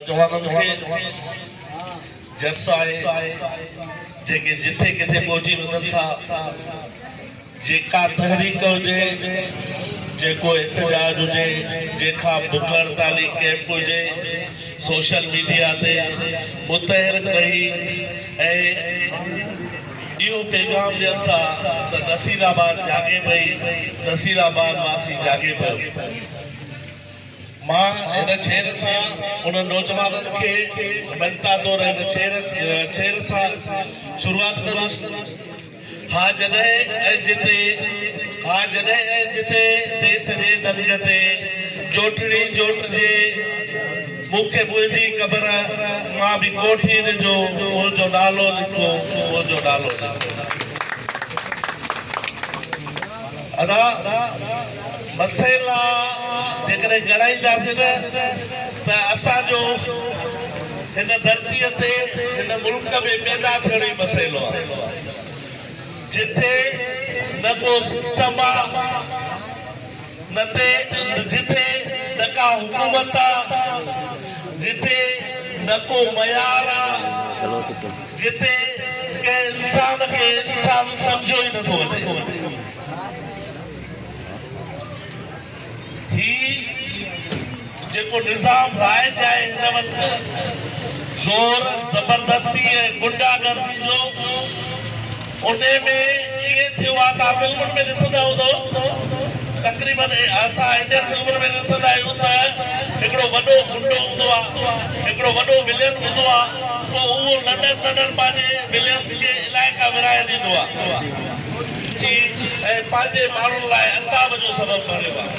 جوانن کي جس آهي جيڪي جٿي ڪٿي ٻوجهي وڃن ٿا جيڪا تحريڪ هجي جيڪو احتجاج هجي جيڪا بک هڙتالي ڪيمپ هجي سوشل ميڊيا تي متحرڪ رهي ۽ اهو پيغام ڏين ٿا ته نصير آباد جاڳي پئي نصير آباد واسي جاڳي پيو. مان هن ڇير سان انهن نوجوانن کي مڃتا طور هن ڇير ڇير سان شروعات ڪندس ها جڏهن ۽ جتي ها جڏهن ۽ جتي تي سڄي دنگ تي جوٽڙي جوٽجي مون کي منهنجي قبر مان به ڪوٺي ڏجو منهنجو نالو لکو منهنجو نالو لکو ادا مسئلا جيڪڏهن ڳڻائينداسين نه ته اسان جو هن ڌرتيء تي هن ملڪ ۾ پيدا ٿيڻ ئي مسئلو آهي جتي نه ڪو سسٽم آ نه تي جتي نه ڪا حڪومت آ جتي نه ڪو معيار آ جتي ڪنهن انسان کي انسان سمجهيو ئي نٿو وڃي. هي جيڪو نظام رائج آهي هن وقت زور زبردستي ۽ غنڊا گردي جو انهي ۾ ائين ٿيو آهي توهان فلمن ۾ ڏسندا هوندو تقريبن اسان انڊين فلمن ۾ ڏسندا آهيون ته هڪڙو وڏو غنڊو هوندو آهي هڪڙو وڏو ولين هوندو آهي پوء اهو ننڍن ننڍن پنهنجي ولينز کي علائقا ورهائي ڏيندو آهي. ٿي ۽ پنهنجي ماڻهن لاء عذاب جو سبب بڻيو آهي.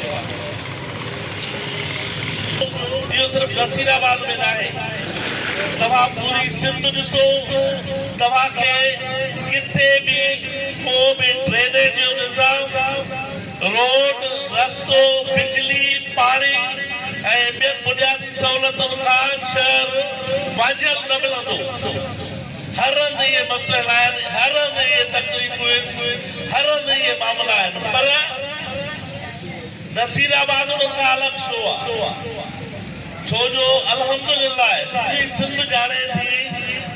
اهو صرف نصير آباد ۾ ناهي، توهان پوري سنڌ ڏسو، توهان کي ڪٿي به ڪو به ڊرينيج جو نظام، روڊ، رستو، بجلي، پاڻي ۽ ٻين بنيادي سهولتن کان شهر وانجهيل نه ملندو. هر هنڌ اهي مسئلا آهن، هر هنڌ اهي تڪليفون آهن، هر هنڌ اهي معاملا آهن پر نصير آباد انهن کان الڳ ڇو آهي؟ ڇو جو الحمد لله پوري سنڌ ڄاڻي ٿي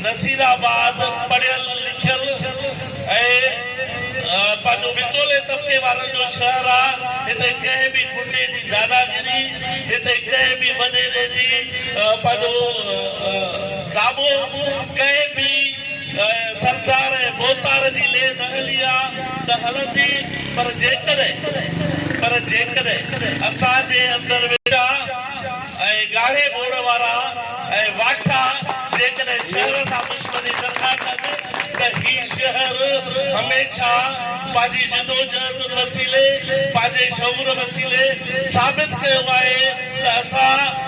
نصير آباد پڙهيل لکيل ۽ پنهنجو وچولي طبقي وارن جو شهر آهي، هتي ڪنهن به غنڊي جي داداگيري، هتي ڪنهن به وڏيري جي پنهنجو. ڪابو، ڪنهن به سرڪار ۽ موتار جي لي نه هلي ها ته هلندي پر جيڪڏهن پر جيڪڏهن اسان جي اندر ويٺا ۽ ڳاڙهي ٻوڙ وارا ۽ واٺا جيڪڏهن شهر سان دشمني سرکا ڪن ته هي شهر هميشه پنهنجي جدوجهد وسيلي پنهنجي شعور وسيلي ثابت ڪيو آهي ته اسان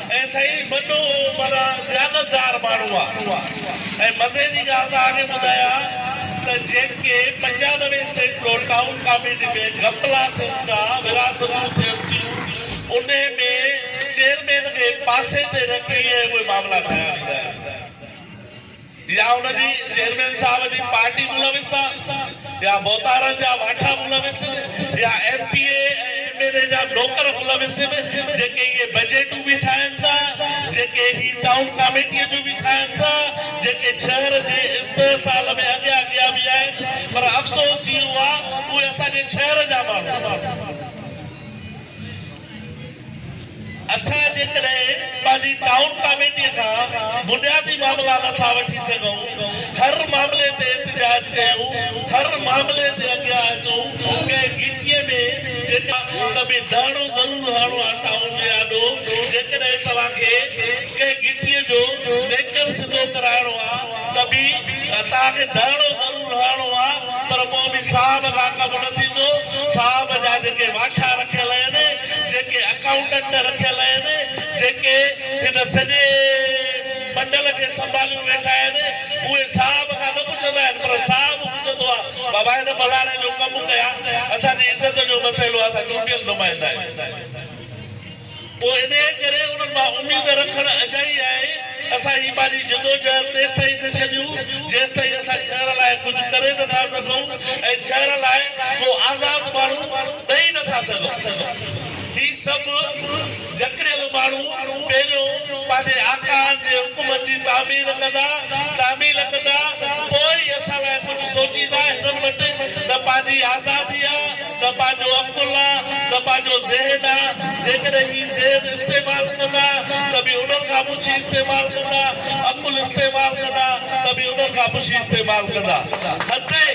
۽ سائين وڏو معنيٰ ديانتدار ماڻهو آ ۽ مزي جي ڳالهه ته آڳي ٻڌايان ته جيڪي پنجانوي سينٽ لو ٽائون ڪاميٽي ۾ گهپلا ٿين ٿا ورهاستون ٿين ٿيون انهي ۾ چيئرمين کي پاسي تي رکي ۽ اهي معاملا ڪيا ويندا آهن. يا ان جي چيئرمين صاحب جي پارٽي ملوث آ يا ڀوتارن جا واٺا ملوث ان يا M P A ۽ M N A جا نوڪر ملوث ان جيڪي اهي بجيٽون به ٺاهن ٿا جيڪي هي ٽائون ڪاميٽيء جون به ٺاهن ٿا جيڪي شهر جي استحصال ۾ اڳيان اڳيان به آهن پر افسوس اهو آ اهي اسان جي شهر جا ماڻهو اسان جيڪڏهن پنهنجي ٽائون ڪاميٽي کان بنيادي معاملا نه ٿا وٺي سگهون، هر معاملي تي احتجاج ڪيون، هر معاملي تي اڳيان اچون، ڪنهن گهٽيء ۾ جيڪا ته به ڌرڻو ضرور هڻڻو آهي ٽائون جي آڏو، جيڪڏهن توهان کي ڪنهن گهٽيء جو ميڪر سڌو ڪرائڻو آهي ته به توهان کي ڌرڻو ضرور. رهڻو آ پر پوء به صاحب کان ڪم نه ٿيندو، صاحب جا جيڪي واکيا رکيل اهن، جيڪي اڪائونٽنٽ رکيل اهن، جيڪي هن سڄي بنڊل کي سنڀاليون ويٺا آهن، اهي صاحب کان نه پڇندا آهن پر صاحب پڇندو آ، بابا هن فلاڻي جو ڪم ڪيا، اسان جي عزت جو مسئلو آ، اسان چونڊيل نمائندا آهيون. پوء انهيء ڪري انهن مان اميد رکڻ اجائي آهي. اسان هي پنهنجي جدوجهد تيستائين نه ڇڏيون، جيستائين اسان شهر لاء ڪجهه ڪري نه ٿا سگهون ۽ شهر لاء ڪو آزاد ماڻهو ڏئي نه ٿا سگهون. هي سڀ جڪڙيل ماڻهو پهريون پنهنجي آقائن جي حڪمن جي تعمير ڪندا، تعميل ڪندا، پوء ئي اسان لاء ڪجهه سوچيندا. هنن وٽ نه پنهنجي آزادي آ. ته پنهنجو عقل آ، ته پنهنجو ذهن آ، جيڪڏهن هي ذهن استعمال ڪندا ته به انهن کان پڇي استعمال ڪندا، عقل استعمال ڪندا ته به انهن کان پڇي استعمال ڪندا. هتي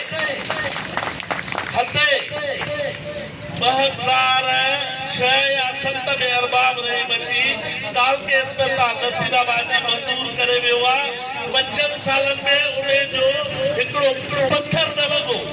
هتي ٻه هزار ڇهه يا ست ۾ ارباب رحيم اچي تعلقي اسپتال نصير آباد جي منظور ڪري ويو آ، پنجن سالن ۾ انهي جو هڪڙو پٿر نه لڳو.